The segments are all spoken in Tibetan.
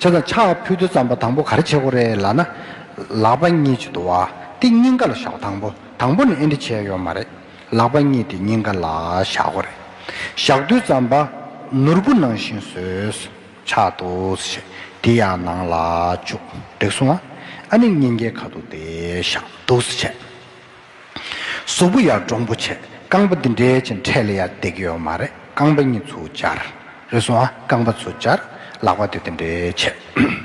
ཕྱག་དང་ཕྱག་ཕུད་དུ་ཙམ་པ་དང་པོ་གར་བྱེད་གོ་རེ་ལ་ན། ལག་པ་གཉིས་ཀྱིས་དུ་བ་སྟེ་སྙིང་ག་ལ་བཞག་དང་པོ་དང་པོ་ནི་ཨེ་འདྲི་བྱས་ཡོད་མ་རེད། ལག་པ་གཉིས་ཏེ་སྙིང་ག་ལ་བཞག་གོ་རེ། ཞག་དུས་ཙམ་པ། ནོར་བུ་ནང་བཞིན་བཟོས། ཕྱག་ཏུ་བྱས། དེ་ཡང་ནང་ལ་བཅུག། རེག་སོང་ཨ། ཨ་ནི་སྙིང་གའི་ཁ་དུ་དེ་བཞག། དུགས་སུ་བྱས། གཟུགས་པོ་ཡར་འདྲོངས་པོ་བྱེད་རྐང་པ་འདི་འདྲའི་ཅན་འཕྲད་ལ་ཡར་བསྡད་ཀྱི་ཡོད་མ་རེད་རྐང་པ་གཉིས་ཚུར་སྦྱར། རེ་ཟུང་ཨ་རྐང་པ་ཚུར་སྦྱར། ལག་པ་དེ་དེ་འདྲའི་བྱེད།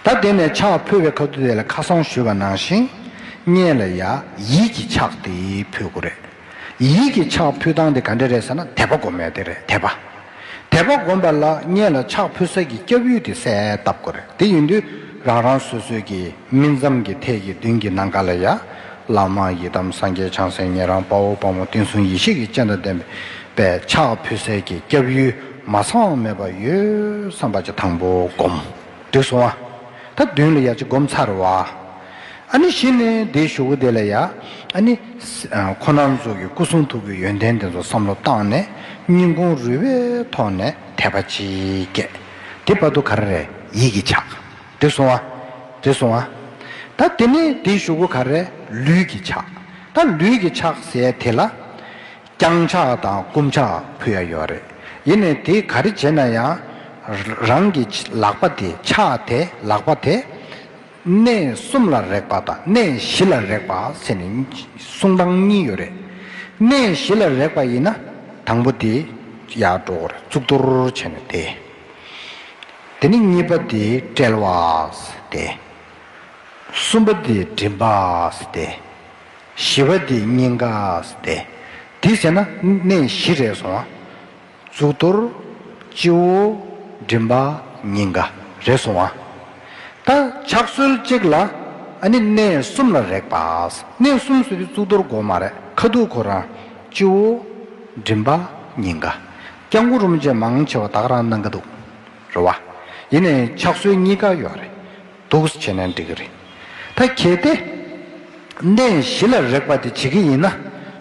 ད་བསྡད་ནས་ཕྱག་ཕུལ་བས་ཁ་ཐུ་དེ་ལ་ཁ་སང་ཞུས་པ་ནང་བཞིན། བསྙད་ལ་ཡ་ཡིད་ཀྱིས་ཕྱག་དེ་ཕུལ་དགོས་རེད། ཡིད་ཀྱི་ཕྱག་འཕུལ་སྟངས་དེ་ག་འདྲ་རེད་ཟེར་ན་དད་པ་སྒོམ་ཡ་དེ་རེད་དད་པ། དད་པ་སྒོམ་པ་ལ་གཉེན་ལ་ཕྱག་འཕུལ་ས་ཀྱི་སྐྱབས་ཡུལ་དེ་གསལ་བཏབ་དགོས་རེད་དེ་ཡིན་དུས་རང་རང་སོ་སོའི་གི་སྨིན་མཚམས་ཀྱི་ཐད་ཀྱི་མདུན་གྱི་ནང་ག་ལ་ཡ། བླ་མ་ཡི་དམ་སངས་རྒྱས་བྱང་སེམས་ཉན་རང་དཔའ་བོ་དཔའ་མོ་བསྟན་སྲུང་ཡེ་ཤེས་ཀྱི་སྤྱན་དང་ལྡན་པའི་ཕྱག་འཕུལ་སའི་གི་སྐྱབས་ཡུལ་མ་ཚང་བ་མེད་པ་ཡོད་བསམ་པ་ཅི་དང་པོ་སྒོམ། འདོད་སོང་བ། ད་བདུན་ལ་ཡ་ཅི་བསྒོམ་ཚར་བ། ཨ་ནི་བཞི་ནས་དེའི་བཞུགས་སྒོ་དེ་ལ་ཡ། ཨ་ནི། ཁོ་ནར་འཛུགས་ཀྱི་སྐུ་གསུང་ཐུགས་ཀྱི་ཡོན་ཏན་དེ་ཚོ་བསམ་བློ་བཏང་ནས་སྙིང་ཁུང་རུས་པའི་ཐོག་ནས་དད་པ་ཅིག་སྐྱེས། དེ་བར་དུ་ག་རེ་རེད་ཡིད་ཀྱི་ཆགས། འདོད་སོང་བ། འདོད་སོང་བ། ད་དེ་ནས་དེའི་བཞུགས་སྒོ་ག་རེ་རེད་ལུས་ཀྱི་ཆགས། ད་ལུས་ཀྱི་ཆགས་ཟེར་དེ་ལ། བརྐྱང་ཕྱག་དང་བསྐུམ་ཕྱག་ཕུལ་ཡ་ཡོད་རེད། ཡིན་ནས་དེ་ག་རེ་བྱས་ན་ཡང། རང་གི་ལག་པ་དེ་ཕྱག་དེ་ལག་པ་དེ། གནས་གསུམ་ལ་རེག་པ་དང་གནས་བཞི་ལ་རེག་པ་ཟེར་ནས་གསུང་སྟངས་གཉིས་ཡོད་རེད། གནས་བཞི་ལ་རེག་པ་ཡིན་ན། དང་པོ་དེ། ཡར་འགྲོ་བར་གཙུག་ཏོར་བྱས་ནས་དེ། དེ་ནས་གཉིས་པ་དེ་དཔྲལ་བ། དེ། གསུམ་པ་དེ་མགྲིན་པ། དེ། ཞི་བ་འདི་སྙིང་ག་སྟེ། དེ་བྱས་ན་གནས་བཞི་རེ་སོང་བ། གཙུག་ཏོར། སྤྱི་བོ། མགྲིན་པ། སྙིང་ག། རེ་སོང་བ། ད་ཕྱག་སྲོལ་གཅིག་ལ། ནི་གནས་གསུམ་ལ་རེག་པ། གནས་གསུམ་ཟེར་བའི་གཙུག་ཏོར་སྒོ་མ་རེ་ཁ་ཐུག་ཁོ་རང། སྤྱི་བོ། མགྲིན་པ། སྙིང་ག། སྐྱབས་མགོན་རུམ་བཅས་མང་ཆེ་བ་དག་རང་གནང་གི་འདུག་རེད་བ། ཡིན་ནའི་ཕྱག་སྲོལ་གཉིས་ཀ་ཡོད་རེད། འདུག་བྱས་ན་འགྲིག་གི་རེད་ད། གལ་ཏེ། གནས་གཞི་ལ་རེག་པ་དེ་བྱེད་ཀྱི་ཡིན་ན།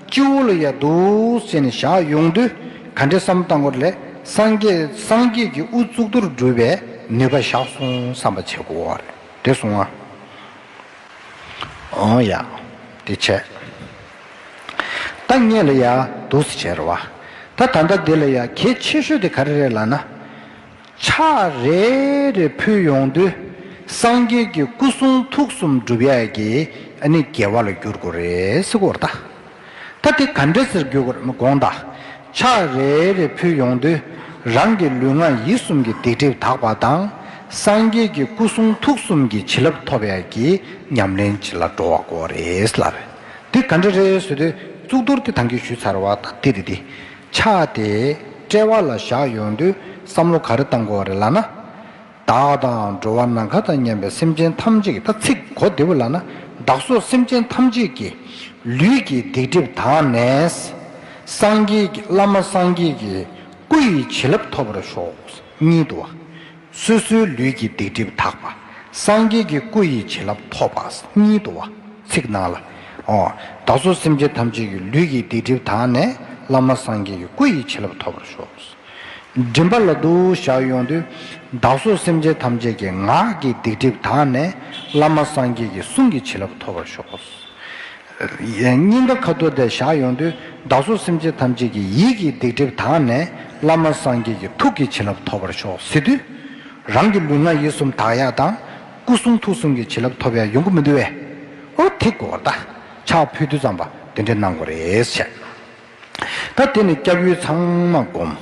སྤྱི་བོ་ལ་ཡར་འདུག་བྱས་ནས་བཞག་ཡོང་དུས་ག་འདྲ་བསམ་བཏང་སྐོར་ལས་སངས་རྒྱས་ཀྱི་དབུ་གཙུག་ཏུ་སྒྲུབ་པའི་ནུས་པ་བཞག་སོང་བསམ་པ་བྱེད་དགོས་བ་རེད་གསུང་ང། ཨོ་ཡ། དེ་བྱས། ད་གནས་ལ་ཡར་འདུག་བྱས་ར་བ། ད་ད་ལྟ་འདི་ལ་ཡར་གལ་ཆེ་ཤོས་དེ་ག་རེ་རེད་ལགས་ན། ཕྱག་རེ་རེ་ཕུལ་ཡོང་དུས་སངས་རྒྱས་ཀྱི་སྐུ་གསུང་ཐུགས་གསུམ་བསྒྲུབ་ཡས་ཀྱི་ནི་རྒྱལ་བ་ལ་བསྒྱུར་དགོས་རེད་ཟེར་གོ་ད་ད་དེ་ག་འདྲ་ཟེར་བསྒྱུར་དགོས་དགོངས་དག་ཕྱག་རེ་རེ་ཕུལ་ཡོང་དུས་རང་གི་ལུས་ངག་ཡིད་གསུམ་གྱི་སྡིག་སྒྲིབ་དག་པ་དང་སངས་རྒྱས་ཀྱི་སྐུ་གསུང་ཐུགས་གསུམ་གྱི་བྱིན་རླབས་ཐོབ་ཡས་ཀྱི་ཉམས་ལེན་བྱེད་ལ་འགྲོ་བ་དགོས་རེད་ལབ་དེ་ག་འདྲ་རེད་ཟེར་དུས་གཙུག་ཏོར་དེ་ཐང་གིས་ཞུས་ཚར་བ་དང་དེ་དེ་དེ། ཆགས་ཏེ་དཔྲལ་བ་ལ་བཞག་ཡོང་དུས་བསམ་བློ་ག་རེ་བཏང་དགོས་བ་རེད་ལགས་ན། བདག་དང་འགྲོ་བ་ནམ་མཁའ་དང་མཉམ་པའི་སེམས་ཅན་ཐམས་ཅད་ཀྱི་ད་ཚིག་གོ་བདེ་བོ་ལགས་ན་བདག་སོགས་སེམས་ཅན་ཐམས་ཅད་ཀྱི་ལུས་ཀྱི་སྡིག་སྒྲིབ་དག་ནས། སངས་རྒྱས་ཀྱི་བླ་མ་སངས་རྒྱས་ཀྱི་སྐུ་ཡི་བྱིན་རླབས་ཐོབ་པར་ཤོག། གཉིད་དུ་བ། སོ་སོའི་ལུས་ཀྱི་སྡིག་སྒྲིབ་དག་པ། སངས་རྒྱས་ཀྱི་སྐུ་ཡི་བྱིན་རླབས་ཐོབ་པ་ཉིད་དུ་བ། ཚིག་ནང་ལ། བདག་སོགས་སེམས་ཅན་ཐམས་ཅད་ཀྱི་ལུས་ཀྱི་སྡིག་སྒྲིབ་དག་ནས་བླ་མ་སངས་རྒྱས་ཀྱི་སྐུ་ཡི་བྱིན་རླབས་ཐོབ་པར་ཤོག། མགྲིན་པ་ལ་འདུ་བྱ་ཡོངས་འདུས། བདག་སོགས་སེམས་ཅན་ཐམས་ཅད་ཀྱི་ངག་གི་སྡིག་སྒྲིབ་དག་ནས་བླ་མ་སངས་རྒྱས་ཀྱི་གསུང་གི་བྱིན་རླབས་ཐོབ་པར་ཤོག། སྙིང་ག་ཁ་ཐུར་ཏེ་བཞག་ཡོང་དུས་བདག་སོགས་སེམས་ཅན་ཐམས་ཅད་ཀྱི་ཡིད་ཀྱི་སྡིག་སྒྲིབ་དག་ནས་བླ་མ་སངས་རྒྱས་ཀྱི་ཐུགས་ཀྱི་བྱིན་རླབས་ཐོབ་པར་ཤོག་ཟེར་དུས། རང་གི་ལུས་ངག་ཡིད་གསུམ་དག་ཡལ་དང། སྐུ་གསུང་ཐུགས་གསུམ་གྱི་བྱིན་རླབས་ཐོབ་ཡང་ཡོང་གི་མི་འདུག་བས། ཨོ་དེ་གོ་བརྡ་ཆག་ཕུལ་དུས་ཙམ་པ་འདི་འདྲས་གནང་དགོས་རེད་བཤད། ད་དེ་ནི་སྐྱབས་ཡུལ་ཚང་མ་བསྒོམ།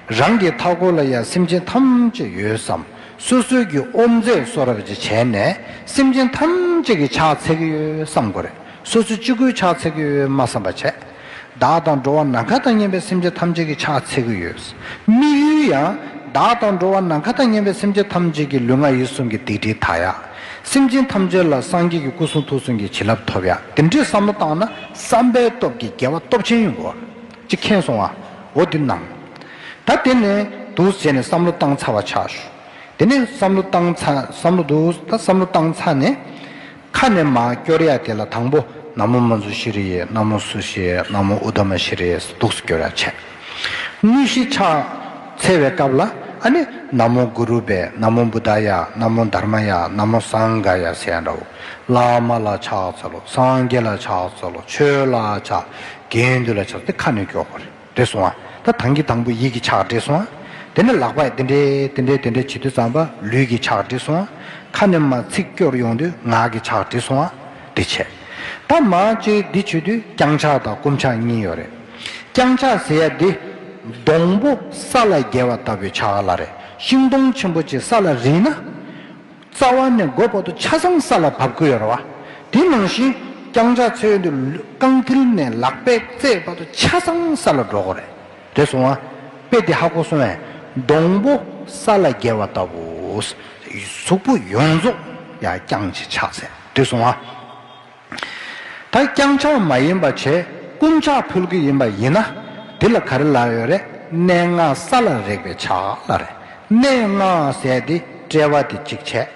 རང་གི་མཐའ་འཁོར་ལ་ཡང་སེམས་ཅན་ཐམས་ཅད་ཡོད་བསམ། སོ་སོའི་གི་ཨོམ་རྫས་གསོ་རབ་ཅིག་བྱས་ནས་སེམས་ཅན་ཐམས་ཅད་ཀྱི་ཕྱག་འཚལ་གི་ཡོད་བསམ་དགོས་རེད། སོ་སོ་གཅིག་པུའི་ཕྱག་འཚལ་གི་ཡོད་སྨྲ་བསམ་པ་བྱས། བདག་དང་འགྲོ་བ་ནམ་མཁའ་དང་གཉེན་པའི་སེམས་ཅན་ཐམས་ཅད་ཀྱི་ཕྱག་འཚལ་གི་ཡོད་དམིགས་ཡུལ་ཡང། བདག་དང་འགྲོ་བ་ནམ་མཁའ་དང་གཉེན་པའི་སེམས་ཅན་ཐམས་ཅད་ཀྱི་ལུས་ངག་ཡིད་གསུམ་གྱི་སྡིག་སྒྲིབ་དག་ཡ། སེམས་ཅན་ཐམས་ཅད་ལ་སངས་རྒྱས་ཀྱི་སྐུ་གསུང་ཐུགས་གསུམ་གྱི་བྱིན་རླབས་ཐོབ་ཡ། དེ་འདྲའི་བསམ་བློ་བཏང་ན། བསམ་པའི་སྟོབས་ཀྱིས་རྒྱལ་བ་སྟོབས་ཆེན་ཡོན་པོ་ཅིག་མཁྱེན་སོང་བའོ་འདི་སྣང། ད་དེ་ནས་འདུག་ཟེར་ནས་བསམ་བློ་བཏང་ཚར་བ་ཆགས་ཞུ། དེ་ནས་བསམ་བློ་བཏང་ཚར་བསམ་བློ་འདུག་ད་བསམ་བློ་བཏང་ཚར་ནས། ཁ་ནས་མ་སྐྱོར་ཡ་དེ་ལ་དང་པོ་ན་མོ་མུ་ཛུ་ཤི་རི་ཡེ་ན་མོ་སུ་ཤི་ཡེ་ན་མོ་ཨུ་དྷ་མ་ཤི་རི་ཡེ་སོགས་འདུག་སུ་སྐྱོར་ཡ་བྱས། དངོས་གཞི་ཕྱག་འཚལ་བའི་སྐབས་ལ་ནི། ན་མོ་གུ་རུ་བེ་ན་མོ་འབུ་དཱ་ཡ་ན་མོ་དྷར་མ་ཡ་ན་མོ་སངས་ག་ཡ་ཟས་འདྲ་བོ། བླ་མ་ལ་ཕྱག་འཚལ་ལོ་སངས་རྒྱས་ལ་ཕྱག་འཚལ་ལོ་ཆོས་ལ་ཕྱག། དགེ་འདུན་ལ་ཕྱག་འདི་ཁ་ནས་ཀྱོག་པར་འདྲེ་སོང་ང་ད་དང་གི་དང་པོ་ཡིད་ཀྱི་ཕྱག་འདྲེ་སོང་ང་དེ་ནས་ལག་པས་དེ་འདྲེ་དེ་འདྲེ་དེ་འདྲེ་བྱེད་དུས་ཙམ་པ་ལུས་ཀྱི་ཕྱག་འདྲེ་སོང་ང་ཁ་ནས་མ་ཚིག་སྐྱོར་ཡོང་དུས་ངག་གི་ཕྱག་འདྲེ་སོང་ང། འདི་བྱས། ད་མ་ཅིག་འདི་བྱེད་དུས་རྐྱང་ཕྱག་དང་སྐུམ་ཕྱག་གཉིས་ཡོད་རེད། རྐྱང་ཕྱག་ཟེར་ཡ་འདི། སྡོང་པོ་ས་ལ་བརྒལ་བ་ལྟ་བུའི་ཕྱག་ལ་རེད་ཤིང་སྡོང་ཆེན་པོ་ཅིག་ས་ལ་རིལ་ན། རྩ་བ་ནས་མགོ་བར་དུ་ཆ་ཚང་ས་ལ་བབས་ཀྱི་ཡོད་རེད་བ། དེ་ནང་བཞིན་རྐྱང་ཕྱག་ཚོས་འདི་རྐང་མཐིལ་ནས་ལག་པའི་རྩེ་བར་དུ་ཆ་ཚང་ས་ལ་འགྲོ་དགོས་རེད། རེད་སོང་བ། དཔེ་འདི་ཧ་གོ་སོང་བས། སྡོང་པོ་ས་ལ་བརྒལ་བ་ལྟ་བུ། གཟུགས་པོ་ཡོངས་རྫོགས་ཡང་རྐྱང་གཅིག་ཕྱག་ཟེར། འདོད་སོང་ང། ད་རྐྱང་ཆགས་མ་ཡིན་པ་བྱས་རྐུན་ཆགས་ཕུལ་གྱི་ཡིན་པ་ཡིན་ན་འདི་ལ་ག་རེ་ལ་ཡོད་རེད་གནས་ལྔ་ས་ལ་རེག་པའི་ཆ་ལ་རེ་གནས་ལྔ་ཟས་དེ་དཔྲལ་བ་དེ་གཅིག་བྱས།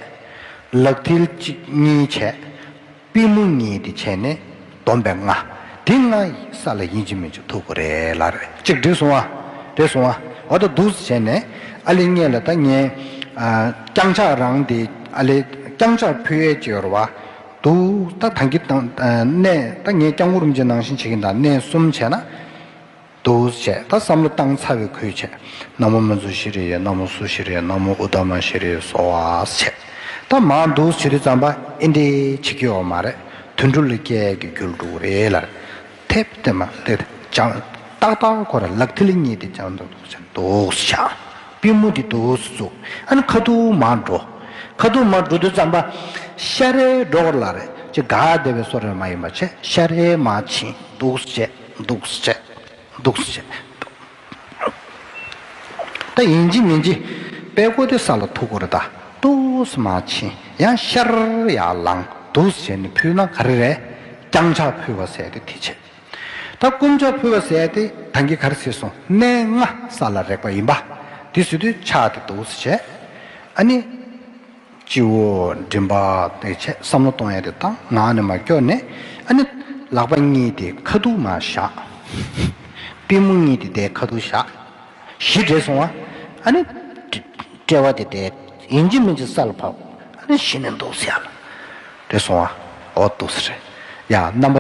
ལག་མཐིལ་གཅིག་གཉིས་བྱས། པི་མོ་གཉིས་དེ་བྱས་ནས། སྡོམ་པའི་ལྔ། དེ་ལྔ་ཡིས་ས་ལ་ཡིན་གཅིག་མིན་གཅིག་ཐུག་གོ་རེ་ལ་རེ་གཅིག་བསྒྲིགས་སོང་བ། དེ་སོང་བ། འོ་ད་འདུག་བྱས་ནས་ཨ་ལེ་རྙེད་ལ་ད་ངས། རྐྱང་ཕྱག་རང་དེ་ཨ་ལེ་རྐྱང་ཕྱག་ཕུལ་ཡས་བྱེད་ཡོར་བ། འདུག་ད་ད་གི་ད་གནས་ད་ངས་རྐྱང་བུ་རུམ་བྱེད་ནང་བཞིན་བྱེད་གིན་ད་གནས་གསུམ་བྱས་ན། འདུ་བྱས་ད་བསམ་བློ་བཏང་ཚར་བའི་ཁུལ་བྱས། ན་མོ་མི་ཟུ་ཤི་རེ་ཡས་ན་མོ་སུ་ཤི་རེ་ན་མོ་འུ་ད་མ་ཤི་རེ་སོ་བས་བྱས། ད་མ་འདུ་བྱེད་དུ་བརྩམས་པ་ཨེ་འདྲས་བྱེད་ཀྱི་ཡོག་མ་རེད་དུད་འགྲོ་ལས་སྐལ་གྱི་རྒྱུ་ལ་འགྲོ་གི་རེད་ལར་ཐེབ་བསྟན་མ་ལེ་བྱང་ཏག་ཏག་ཁོ་ར་ལག་མཐིལ་གཉིས་དེ་བྱང་ཏག་ཏག་བྱས་འདུ་བྱས་པུས་མོ་དེ་འདུ་བྱས་བཙུགས་ཨ་ན་ཁ་ཐུ་མ་འགྲོ་ཁ་ཐུ་མ་འགྲོ་དུ་བརྩམས་པ་ཤ་རའི་སྒྲོག་ལ་རེ་ཅི་དགའ་བདེ་བའི་སོ་རེ་མ་ཡིན་པ་བྱས་ཤ་རའི་མ་བྱིན་འདུ་བྱས། འདུག་བྱས། འདུག་བྱས། འདུག་ད་ཡིན་གྱི་མིན་གྱི། པད་སྐོ་དེ་ས་ལ་ཐུག་གོ་ར་ད། ཏོགས་མ་ཕྱིན་ཡང་ཤར་ཡར་ལངས་འདུག་བྱས་ནས་ཕུལ་ན་ག་རེ་རེད། རྐྱང་ཆག་ཕུལ་བ་ཟས་ཏེ་དེ་བྱས། ད་སྐོམ་ཆག་ཕུལ་བ་ཟས་ཏེ་ད་འགི་ག་རེ་བྱས་སོང་གནས་ལྔ་ས་ལ་རེག་པ་ཡིན་པ། དེ་བྱས་དུས་ཆག་སྟེ་འདུག་བྱས། ཨ་ནི། སྤྱི་བོ་མགྲིན་པ་དེ་ཆེད་བསམ་བློ་གཏོང་ཡ་དེ་ད་ངག་ནས་མ་སྐྱོ་ནས་ཨ་ནི། ལག་པ་གཉིས་དེ་ཁ་ཐུག་མ་བཞག། པུས་མོ་གཉིས་དེ་དེ་ཁ་ཐུག་བཞག། གཞི་བྲེས་སོང་བ་ཨ་ནི། དཔྲལ་བ་དེ་དེ་ཡིན་གཅིག་མིན་གཅིག་ས་ལ་བབས་ཨ་ནི་གཞི་ནས་འདུག་ས་ལ་བྲེས་སོང་བ་ཨོ་ཏུ་སི་རེ་ཡ་རྣམ་པ།